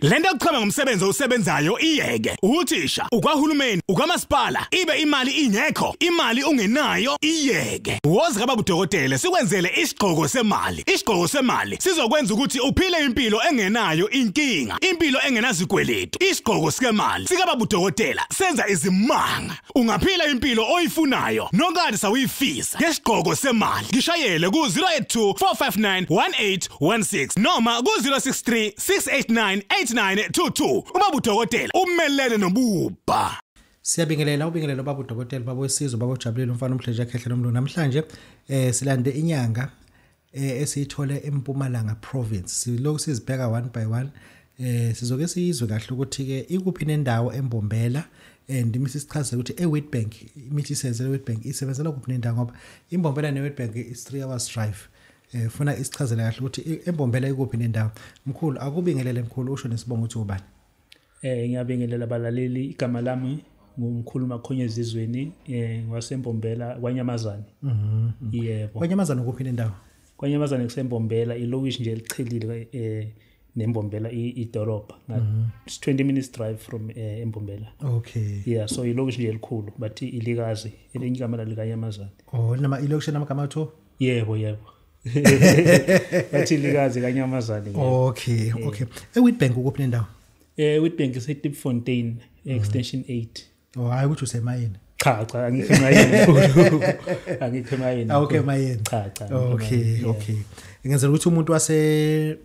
Lento yokuchama ngomsebenzi osebenzayo iyeke. Uthisha, ukwahulumeni, ukwamasipala, ibe imali ingekho, imali ungenayo iyeke. Wozi kaba kudokotela sikwenzele isigqoko semali. Isigqoko semali sizokwenza ukuthi uphile impilo engenayo inkinga, impilo engenazikweletu. Isigqoko sikemali sikaba budokotela senza izimanga. Ungaphila impilo oyifunayo nokade sawuyifisa ngesigqoko semali. Ngishayele ku 0824591816 noma ku 0636898922. Uma budokotela umelene nobubha. Siyabingelela ubingelela baba udokotela baba wesizwe baba ujabulile umfana umdleje ekhehla nomlungu namhlanje eh silande inyanga eh, esiyithole eMpumalanga province silokhu sizibheka one by one eh sizoke siyizwe kahle ukuthi ke ikuphi nendawo embombela and imithi sichaze ukuthi eWitbank imithi isenzele eWitbank isebenzela kuphi nendawo ngoba imbombela neWitbank is 3 hours drive eh funa isichazele kahle ukuthi embombela ikuphi nendawo mkhulu akubingelele mkhulu usho nesibongo ukuthi ubani Eh ngiyabingelela balaleli igama lami ngumkhulu makhonya ezizweni eh ngiwasembombela kwaNyamazane. Mhm. Yebo. KwaNyamazane kuphi nendawo? KwaNyamazane kusembombela ilokishi nje elichilile eh nembombela idorobha mhm. it's 20 minutes drive from eh, embombela okay yeah so ilokishi nje elikhulu but ilikazi elinye igama lalikanyamazane oh nama ilokishi namagama atho yebo yebo bathi likazi kanyamazane okay eh. okay ewitbank ukuphi nendawo eh witbank isetipfontein mm. extension 8 oh hayi ukuthi usemayini cha cha angikho emayini angikho emayini ah, okay mayini cha cha okay okay ngenzela ukuthi umuntu wase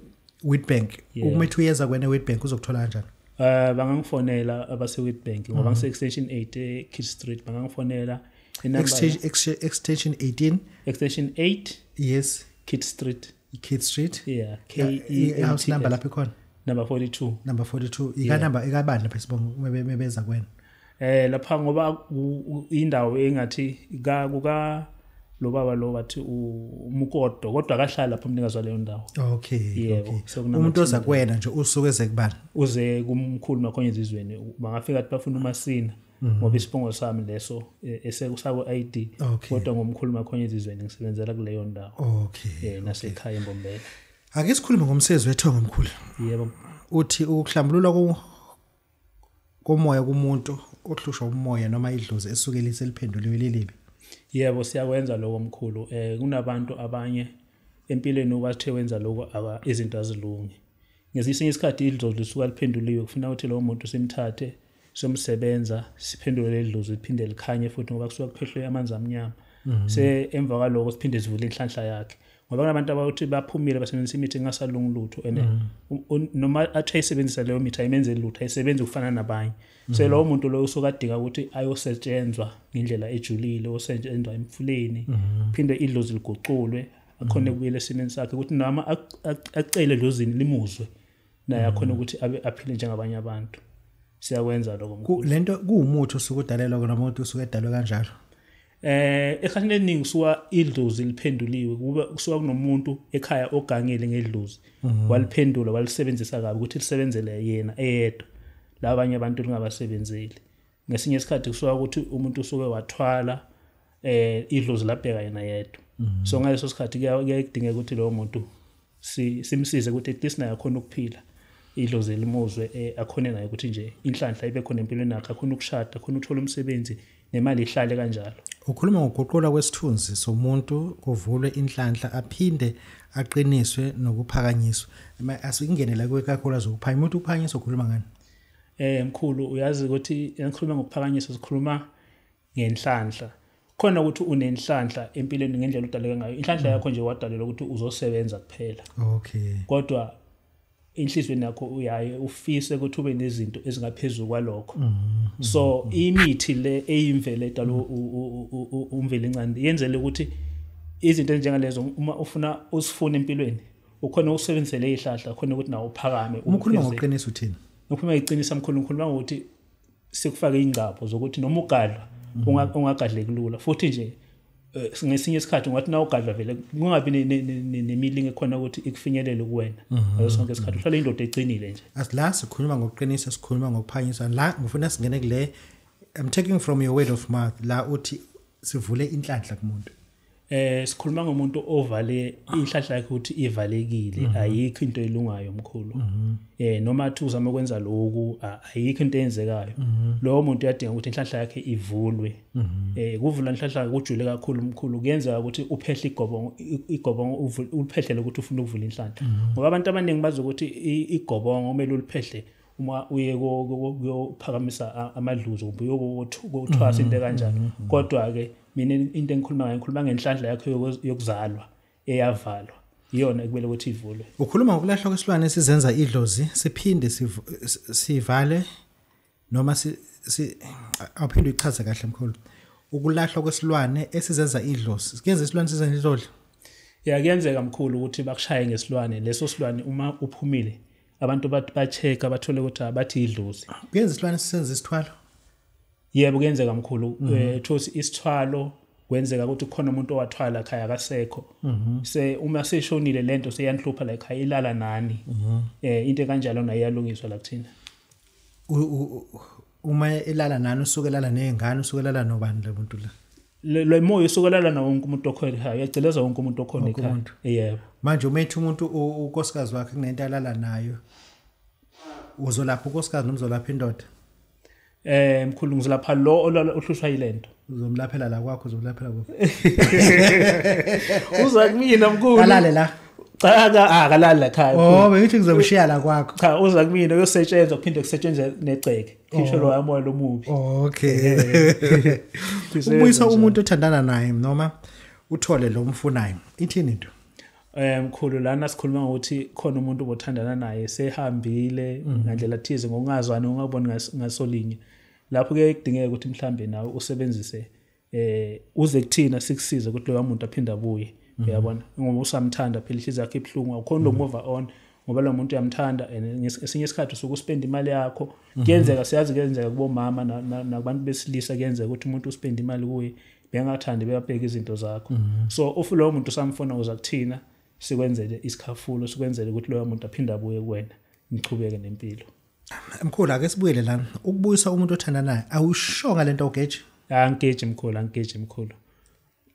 witbank uma ethi uyenza kwena witbank uzokuthola kanjani eh bangangifonela abase witbank ngoba mm. ngise extension 8 e Kids Street bangangifonela extension 18 extension 8 yes kit street kit street yeah k e n t number lapha khona number 42 number 42 ika number ikabani lapha sibonga mebeza kwena eh lapha ngoba indawo engathi ka kuka lo baba lo wathi umukodo kodwa akahlala lapho umnikazi waleyo ndawo okay yebo okay. so umuntu oza kuwena nje usuke ezekubani uze kumkhulu makhonye izizweni bangafika ukuthi bafuna umasina mhm. ngoba isibongo sami leso e, esekusako ID kodwa ngomkhuluma khona izizweni ngisebenzela kuleyo ndawo okay eh nasekhaya embombela ake sikhulume ngomsebenzi wethongo omkhulu yebo uthi ukuhlambulula komoya kumuntu ohlushwa umoya noma idlozi esuke liseliphenduliwe lilibi yebo siyakwenza lokho mkhulu eh kunabantu abanye empilweni obathe wenza lokho aka izinto azilungi ngesinye isikhathi idlozi lisuka liphenduliwe kufuna ukuthi lowo muntu simthathe somsebenza siphenduke ledluzi liphinde likhanye futhi ngoba kusuka kuphehlwe amanzi amnyama mhm. se emva kwaloko siphinde sivule inhlanhla yakhe ngoba kunabantu abathi baphumile basebenzisa imithi engasalungi lutho and mhm. noma athi ayisebenzisa leyo mithi ayimenze lutho ayisebenzi ukufana nabanye so mhm. lowo muntu loyo usuke adinga ukuthi ayosetshenzwa ngendlela ejulile osetshenzwa emfuleni phinde idlozi liguculwe akhona kubuyela esimeni sakhe ukuthi noma acele lozini limuzwe naye akhona mm. ukuthi abe aphile njengabanye abantu siyakwenza lokho mkhulu lento kuwumuthi osuke udalelwa kona umuntu usuke edalwe kanjalo eh ekhani leningi kusuka idlozi liphenduliwe kuba kusuka kunomuntu ekhaya ogangile ngedlozi mhm. waliphendula walisebenzisa kabi ukuthi lisebenzele yena eyedwa labanye abantu lingabasebenzeli ngesinye isikhathi kusuka ukuthi umuntu usuke wathwala eh idlozi labheka yena yedwa mhm. so ngaleso sikhathi kuyadingeka ukuthi lowo muntu simsize ukuthi at least naye akhona ukuphila idlozi elimuzwe eh, akhone naye ukuthi nje inhlanhla ibe khona empilweni yakhe akhona ukushada akhona ukuthola umsebenzi nemali ihlale kanjalo ukhuluma ngokuguqula kwesithunzi somuntu kuvulwe inhlanhla aphinde aqiniswe nokuphakanyiswa asikungenela kwekakhulu azokuphanya umuntu uphanyisa ukhuluma ngani eh mkhulu uyazi ukuthi ngikhuluma ngokuphakanyiswa sikhuluma ngenhlanhla khona ukuthi unenhlanhla empilweni ngendlela udaleke ngayo inhlanhla mm. yakho nje wadalelwa ukuthi uzosebenza kuphela okay kodwa inhlizweni yakho uyaye ufise ukuthi ube nezinto ezingaphezulu kwalokho mm, mm, so imithi le eyimvele edalwa umveli incane yenzele ukuthi izinto ezinjengalezo uma ufuna usifuna empilweni ukhona ukusebenzisela izihlahla khona ukuthi nawo uphakame umkhuluma ngoqiniso uthini ukhuluma iqiniso amkhulu ngikhuluma ngokuthi sikufake ingcapho zokuthi noma ugadlwa mhm. ungagadleki lula futhi nje eh, ngesinye isikhathi ungathi na ugadlwa vele kungabi nemilingo ekhona ukuthi ikufinyelele kuwena mhm. ngaso sonke isikhathi uhlale indoda eqinile nje asila sikhuluma ngokuqinisa sikhuluma ngokuphanyiswa la ngifuna singene kule i'm taking from your word of mouth la uthi sivule inhlanhla kumuntu eh sikhuluma ngomuntu ovale inhlahla yakhe ukuthi ivalekile mhm. ayikho into elungayo mkhulu mhm. eh noma athi uzama ukwenza lokhu ayikho into eyenzekayo mhm. lowo muntu uyadinga ukuthi inhlahla yakhe ivulwe eh kuvula inhlahla kujule kakhulu mkhulu kuyenza ukuthi uphehle igobongo igobongo uliphehlele ukuthi ufuna ukuvula inhlahla ngoba abantu abaningi bazi ukuthi igobongo kumele uliphehle uma uye kuyophakamisa amadluzo kumbe uyokuthwasa into kanjani mm-hmm. kodwa-ke mina into engikhuluma ngayo ngikhuluma ngenhlanhla yakho yokuzalwa eyavalwa iyona ekumele ukuthi ivulwe ukhuluma ngokulahlwa kwesilwane esizenza idlozi siphinde sivale noma awuphinde uyichaze kahle mkhulu ukulahlwa kwesilwane esizenza idlozi kuyenza isilwane sizenza idlozi ya kuyenzeka mkhulu ukuthi bakushaye ngesilwane leso silwane uma uphumile abantu bathi ba-check-a bathole ukuthi abathi yidlozi kuyenza isilwane sisenza isithwalo yebo kuyenzeka mkhulu mhm. eh, kuthiwa mm -hmm. isithwalo kwenzeka ukuthi khona umuntu owathwala ekhaya akasekho mhm. se uma seshonile lento seyanhlupha la ekhaya ilala nani mhm. eh into kanjalo nayo iyalungiswa la kuthina uma elala nani usuke elala nezingane usuke elala nobani le muntu la le moya usuke elala nawo wonke umuntu okhona ekhaya uyagceleza wonke umuntu okhona ekhaya yebo manje uma ethi umuntu ukosikazi wakhe kunento alala nayo uzolapha ukosikazi nomzolapha indoda eh mkhulu ngizolapha lo ohlushwa yilento uzomlaphela la kwakho uzomlaphela kwakho uza kumina mkhulu kalale la cha ka akalali ah, la khaya oh bengithi ngizomshiya la kwakho cha uza kumina uyosetshenzwa kuphinde kusetshenzwe negceke khisho oh. lo yamoya lomubi okay ubuyisa umuntu othandana naye noma uthole lo mfunayo ithini into eh mkhulu lana sikhuluma ngokuthi khona umuntu obothandana naye sehambile mhm. ngandlela thize ngokungazwani ungaboni ngasolinye lapho ke kudingeka ukuthi mhlambe nawe usebenzise eh uze kuthina sikusize ukuthi loya muntu aphinde abuye mhm. uyabona ngoba usamthanda phela ihliziyo yakhe ibhlungu awukhona mhm. ukumova on ngoba lo muntu uyamthanda and esinye isikhathi usuke uspenda imali yakho mhm. kuyenzeka siyazi kuyenzeka kubomama nakubantu besilisa kuyenzeka ukuthi umuntu uspenda imali kuye bengathandi beyabheka izinto zakho so ufu lowo muntu usamfona uza kuthina sikwenzele isikhafulo sikwenzele ukuthi loyo muntu aphinde abuye kuwena nichubeke nempilo Mkhulu ake sibuyele la ukubuyisa umuntu othanda naye awushonga lento ogeji angigeji mkhulu angigeji mkhulu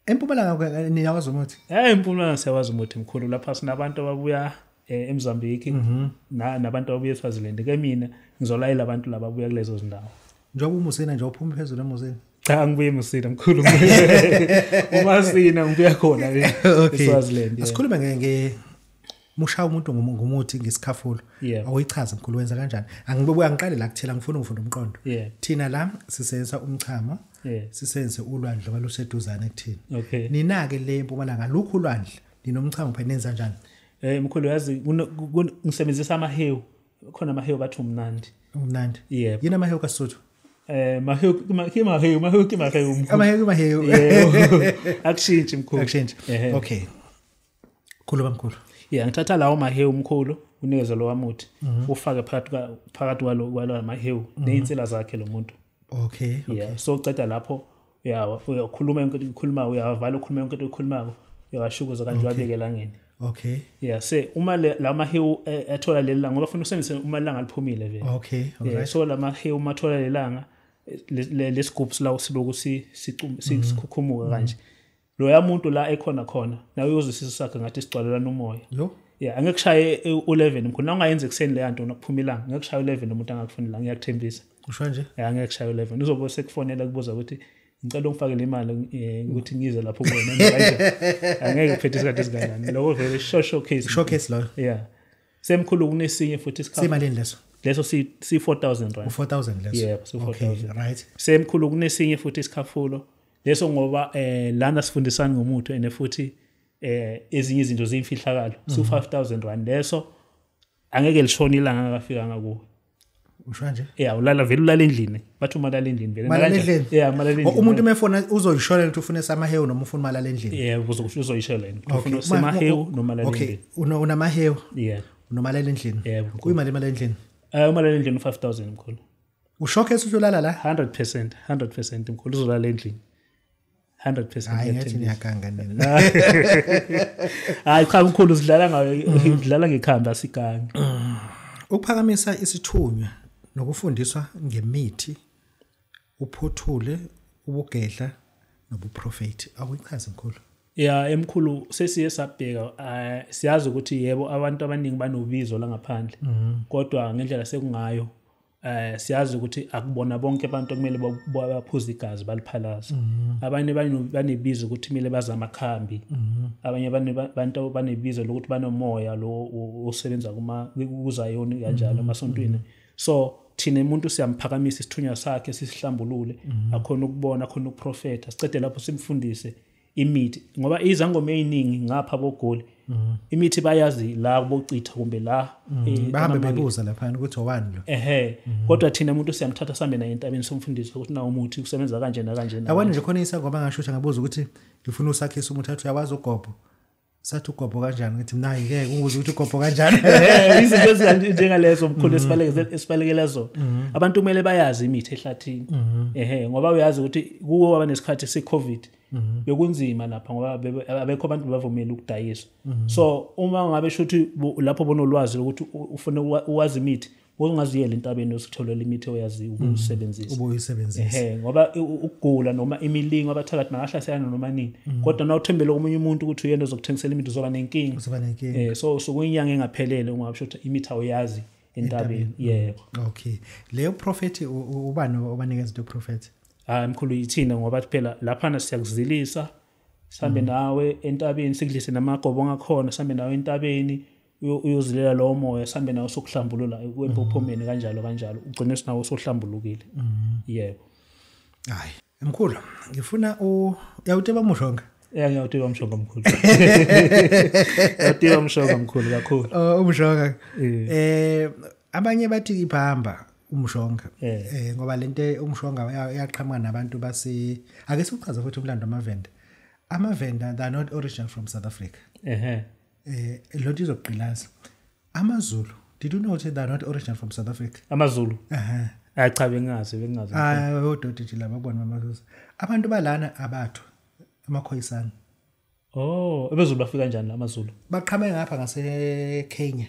Empumalanga niyawazi umuthi Eh empumalanga siyawazi umuthi mkhulu lapha sinabantu ababuya eh, eMozambique mhm. na nabantu ababuya eSwaziland ke mina ngizolayela abantu laba ababuya kulezo zindawo Njengoba umusina nje uphuma phezulu emusini cha ngibuye musina mkhulu uma sina ngibuya khona eSwaziland Asikhulume ngeke musha umuntu ngumuthi ngesikhafulo awuyichazi mkhulu wenza kanjani angibuya ngiqale la kuthela ngifuna ukufunda umqondo thina la sisebenzisa umchamo sisenze ulwandle ngoba luseduzane kuthina nina-ke le mpumalanga lukhu ulwandle ninomchamo phela nenza njani um eh, mkhulu yazi ngisebenzisa amahewu khona amahewu bathi umnandi umnandi yebo yini amahewu kasuthu eh mahewu ke mahewu mahewu ke mahewu amahewu mahewu akushintshi mkhulu akushintshi okay khulu bamkhulu yeah ngithatha lawo mahewu mkhulu unikeze lo wamuthi mhm. ufake phakathi phakathi kwalo kwalo mahewu mhm. nezinsila zakhe lo muntu okay yeah so uceda lapho uyawa uyakhuluma yonke into ukhuluma uyavala ukhuluma yonke into ukhuluma uyawashukuza kanti wabeke langeni okay yeah se uma la mahewu eh, athola lelanga ngoba funa usebenzise uma langa liphumile vele okay alright so la mahewu mathola lelanga lesigubhu silawo siloku mhm. sikhukhumuka kanje mm -hmm. loya muntu la ekhona khona nawe uyozwisisa sakhe ngathi sigcwalelana umoya yo yeah angeke kushaye u11 mkhona ungayenza ekseni leya nto nokuphuma ilanga ngeke kushaye u11 umuntu angakufuni la ngiyakuthembisa usho nje yeah angeke kushaye u11 uzobe sekufonela kubuza ukuthi ngicela ungifakele imali eh, ukuthi ngize lapho kuwena angeke kuphethe isikhathi esinganani lokho vele showcase showcase loyo yeah semkhulu kunesinye futhi isikhathi simalini leso leso si 4000 rand 4000 leso yebo si 4000 right semkhulu kunesinye futhi isikhafulo leso ngoba eh lana sifundisana ngomuthi ene futhi eh ezinye izinto ziyimfihlakalo so 5000 mhm. rand leso angeke lishone ilanga akafika ngakuwe usho nje yeah ulala vele ulala endlini bathi uma lala endlini vele malala endlini yeah malala endlini umuntu umefona uzoyishona ukuthi ufune samahewu noma ufuna malala endlini yeah uzokusho uzoyishela yini ufuna samahewu noma lala endlini okay unamahewu yeah noma lala endlini yeah kuyimali imali endlini eh uma lala endlini 5000 mkhulu ushokhe ethi uyolala la 100% 100% mkhulu uzolala endlini 100% hayi ngathi ngiyakanga nina hayi cha mkhulu sidlala ngayo ngidlala ngekhanda asikangi ukuphakamisa isithunywa nokufundiswa ngemithi uphothule ubugedla nobuprofeti akuyichazi mkhulu ya emkhulu sesiye sabheka eh, siyazi ukuthi yebo abantu abaningi banobizo langaphandle mhm. kodwa ngendlela sekungayo eh siyazi ukuthi akubona bonke abantu kumele baphuze igazi baliphalaza mhm. abanye banebizo ukuthi kumele baza amakhambi mhm. abanye abantu banebizo lokuthi banomoya lo osebenza kuma kuzayoni kanjalo mhm. emasontweni so thina umuntu siyamphakamisa isithunywa sakhe sisihlambulule akhona ukubona akhona ukuprofetha sicede lapho simfundise imithi ngoba izangoma eziningi ngapha bogoli mhm. imithi bayazi la bocitha kumbe la mhm. eh, bahambe bebuza lapha ukuthi owani lo ehe mhm. kodwa thina umuntu siyamthatha sambe naye entabeni somfundisi ukuthi nawo umuthi usebenza kanje na kanje na awani nje khona isangoma ngasho ukuthi ngabuza ukuthi ngifuna usakhisa umuthi athi uyawazi ugobho sathi ugobho kanjani ngithi mina ngeke ukuze ukuthi ugobho kanjani izinto ezinje njengalezo mkhulu mhm. esibalekele esibalekele zona mhm. abantu kumele bayazi imithi ehlathini mhm. ehe ngoba uyazi ukuthi kuwo waba nesikhathi se covid bekunzima lapha ngoba abekho abantu bavumela ukudayisa so uma ngabe shuthi lapho bonolwazi ukuthi ufuna uwazi imithi ungaziyela entabeni usitholela imithi oyazi mm. ukuyisebenzisa ubuyisebenzisa ehe ngoba ukugula noma imilingo abathakathi bangahlaselana noma nini mm. kodwa na uthembele komunye umuntu ukuthi uyena ozokuthengisela imithi uzoba nenkinga uzoba nenkinga eh so sokuyinyanga engaphelele ungasho ukuthi imithi awayazi entabeni mm. yebo okay leyo prophet ubani obanikeza into prophet hayi ah, mkhulu yithina ngoba phela laphana siyakuzilisa sambe nawe entabeni sikudlise namagobo ngakhona sambe nawe entabeni uyozilela lowo moya sihambe nawo sokuhlambulula kwempophomeni mm-hmm. kanjalo kanjalo ugcine sinawo sohlambulukile mm-hmm. yebo hayi mkhulu ngifuna u yawuteba mushonga ya ngiyawuteba mshonga mkhulu yawuteba mshonga mkhulu kakhulu oh, umshonga eh abanye bathi iphamba umshonga eh ngoba lento umshonga yaqhamuka nabantu base ake siqhaza futhi umlando amavenda amavenda they are not original from south africa ehe Eh lo nto izogqilaza. AmaZulu, did you know they are not original from South Africa? AmaZulu. Ehhe. Hayi cha bengazi bengazi. Hayi odoti nje laba bona amaZulu. Abantu balana abathu amakhoyisana. Oh, ebezulu bafika kanjani amaZulu? Baqhame ngapha ngase Kenya.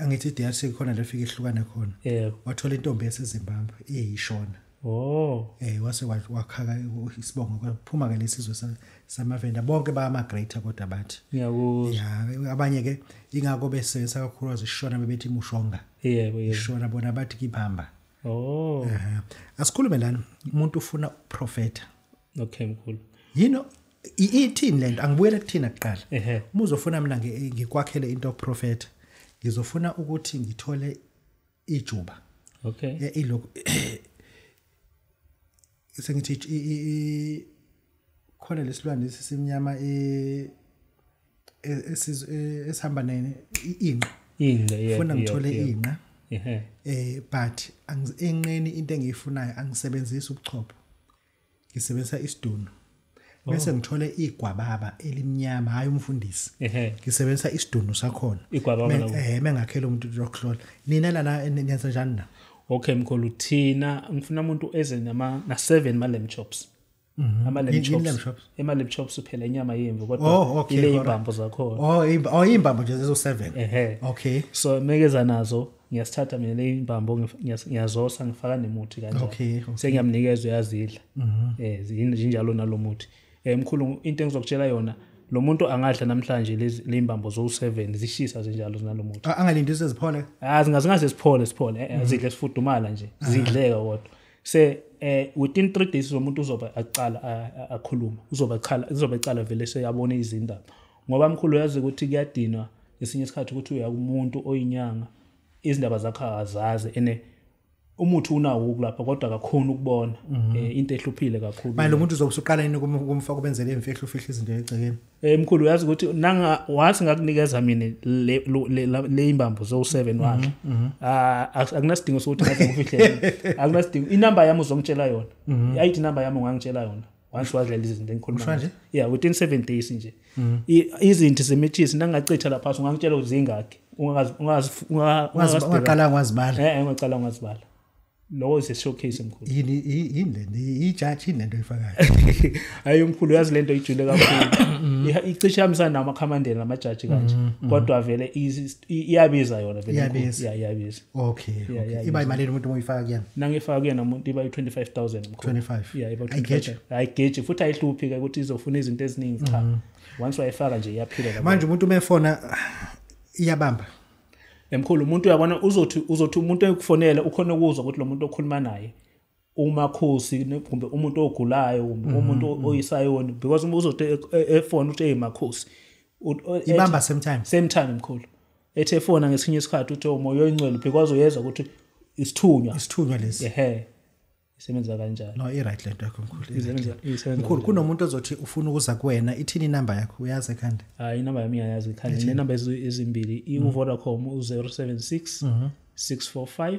angithi DRC khona la fika ihlukana khona yebo wathola intombi yaseZimbabwe iyishona oh eh wase wakhaka isibongo kwaphuma ke lesizwe samavenda bonke bama greater kodwa bathi ngiyakuzwa ya abanye ke ingakho besebenzisa kakhulu azishona bebethi mushonga yebo yebo ishona bona bathi kibamba oh asikhulume lana umuntu ufuna uprofeta okay mkhulu yini ithini lento angibuyele kuthina kuqala uma uzofuna mina ngikwakhele into prophet ngizofuna ukuthi ngithole ijuba okay eh, ilokhu sengithi khona lesilwane simnyama e, e, e, esihamba nene inqa inqa yeah funa ngithole inqa eh but enqeni into engiyifunayo angisebenzisi ubuchopho ngisebenzisa isidunu bese oh. ngithole igwababa elimnyama hayi umfundisi ngisebenzisa isidunu sakhona igwababa eh mengakhela umuntu rockloll nina lana niyenza njani na okay mkhulu thina ngifuna umuntu eze nama na 7 ma lamb chops mhm. ama lamb chops ema lamb chops uphela inyama yemvu kodwa oh, ile imbambo zakhona oh, oh imbambo nje zezo 7 ehe okay so mekeza nazo ngiyasithatha mina le imbambo ngiyazosa ngifaka nemuthi kanjalo okay, okay. sengiyamnikeza uyazidla mhm. eh zinjalo nalomuthi eh mkhulu into engizokutshela yona lo muntu angadla namhlanje le imbambo zowu-7 zishisa zinjalo zinalomuthi angalindi seziphole ah zingazingaze siphole siphole eh, eh, mhm. zidle sifudumala nje zidleka kodwa se eh within 3 days lo muntu uzoba aqala akhuluma uzoba chala uzoba chala vele seyabona izindaba ngoba mkhulu uyazi ukuthi kuyadinwa ngesinye isikhathi ukuthi uya kumuntu oyinyanga izindaba zakho akazazi ene umuthi unawo ukulapha kodwa akakhona ukubona mhm. eh, into ehluphile kakhulu manje umuntu uzobe usuqala yini kumfa kubenzele imfihlo ufihla izinto egcekeni eh mkhulu uyazi ukuthi nanga wathi ngakunikeza mina le imbambo zo 7 mhm, wakhe mhm. Ah, akunasidingo sokuthi ngaze ngifihle akunasidingo inamba yami uzongitshela yona i ID number yami ungangitshela yona once wadlela izinto engikhuluma nje yeah within 7 days nje mm. izinto zemithisi nangachitha lapha ungangitshela uzingakhe ungazi ungazi ungaqala ngazibala eh, eh ungaqala ngazibala lowo is a showcase mkhulu yini yini le ijudge yini lento oyifakayo hayi mkhulu yazi lento ijule kakhulu icishe yamisana nama commandant nama judge kanje mm, mm. kodwa vele iyabiza yona vele iyabiza iyabiza okay yeah, okay yeah, iba imali umuntu oyifaka kuyena nangifaka kuyena umuntu iba i25000 mkhulu 25 yeah iba i25 ayigeje futhi ayihluphi ke ukuthi izofuna izinto eziningi cha mm -hmm. once wayifaka nje iyaphila lapho manje umuntu umefona iyabamba emkhulu umuntu uyabona uzothi uzothi umuntu ekufonela ukhona ukuzwa ukuthi lo muntu okhuluma naye umakhosi kumbe umuntu ogulayo kumbe mm-hmm, umuntu mm-hmm. oyisayoni because uma uzothi e, e, efona uthi eyi makhosi ibamba same time same time mkhulu ethi efona ngesinye isikhathi uthi umoya oh, oyingcwele because uyeza ukuthi isithunywa isithunywa lesi ehe isebenza kanjani no i-right lento yakho mkhulu mkhulu kunomuntu ozothi ufuna ukuza kuwena ithini inamba yakho uyazi ekhanda hayi inamba yami iyayazi ekhanda nginenamba ezimbili i-vodacom u-076 645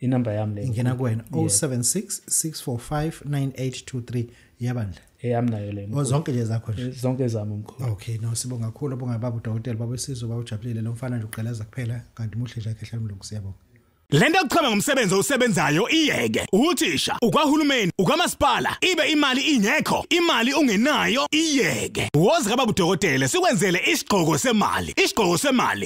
inumber yami le ngena kuwena 0766459823 yabandla eyami nayo le oh, zonke nje zakho nje eh, zonke zami mkhulu okay no sibonga kakhulu bonga baba udokotela baba isizwe baba ujabulile lo mfana nje uqeleza kuphela kanti muhle nje akhe hlala mlungu siyabonga lento yokuchama ngomsebenzi osebenzayo iyeke uthisha ukwahulumeni ukamasipala ibe imali ingekho imali ungenayo iyeke woza kababa udokotela sikwenzele isigqoko semali isigqoko semali